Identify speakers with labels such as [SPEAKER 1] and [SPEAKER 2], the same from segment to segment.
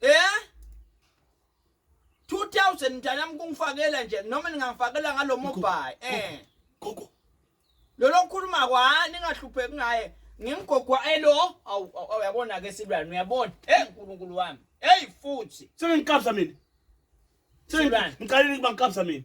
[SPEAKER 1] Eh? 2000 mntanami kungifakela nje noma ningangifakela ngalo mobile. Eh. Gogo.
[SPEAKER 2] Lo
[SPEAKER 1] lokhuluma kwa ningahlupheki ngaye. Ngimgogwa elo. Awu uyabona ke silwane uyabona. Eh uNkulunkulu wami. Hey futhi. Sengikabza mina.
[SPEAKER 2] Silwane. Ngiqalile ukuba ngikabza mina.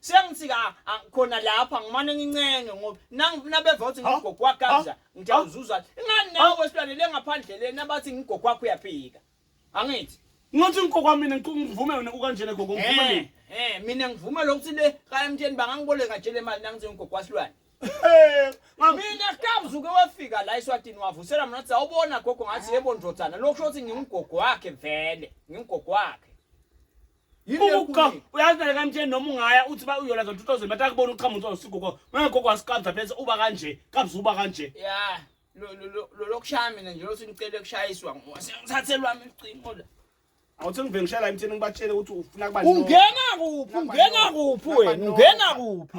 [SPEAKER 1] sengithi ka a- khona lapha ngimane ngincenge ngoba nang- nabevothi ngigogo wakabza ngiyawuzuza ingani nawe wesilwane le ngaphandle leni abathi ngigogo wakho uyaphika angithi Ngothi ngikokwa
[SPEAKER 2] mina ngiku- ngivume wena ukanjena gogo ngivume Eh, mina. eh, mina ngivume
[SPEAKER 1] lokuthi le kayamtsheni bangangiboleka nje le mali nangithi ngigogo wasilwane Eh, mam- mina kabza uke wafika la eswatini wavusela mna wathi awubona gogo ngathi yebo ndodana lokho shothi ngingugogo wakhe vele ngingugogo wakhe
[SPEAKER 2] Uka uyazi phela kamtsheni noma ungaya uthi ba uyola za 2000 but akubona uqhamu uthi usigugo mangekho kwasiqabza phela uba kanje kabza uba kanje yeah lo
[SPEAKER 1] lo lo lokushaya mina nje lothi ngicela kushayiswa ngisathe lwami icingo la awuthi ngivele ngishayela
[SPEAKER 2] emthini ngibatshele ukuthi ufuna
[SPEAKER 1] kuba
[SPEAKER 2] ungena kuphi
[SPEAKER 1] ungena
[SPEAKER 2] kuphi
[SPEAKER 1] wena
[SPEAKER 2] ungena
[SPEAKER 1] kuphi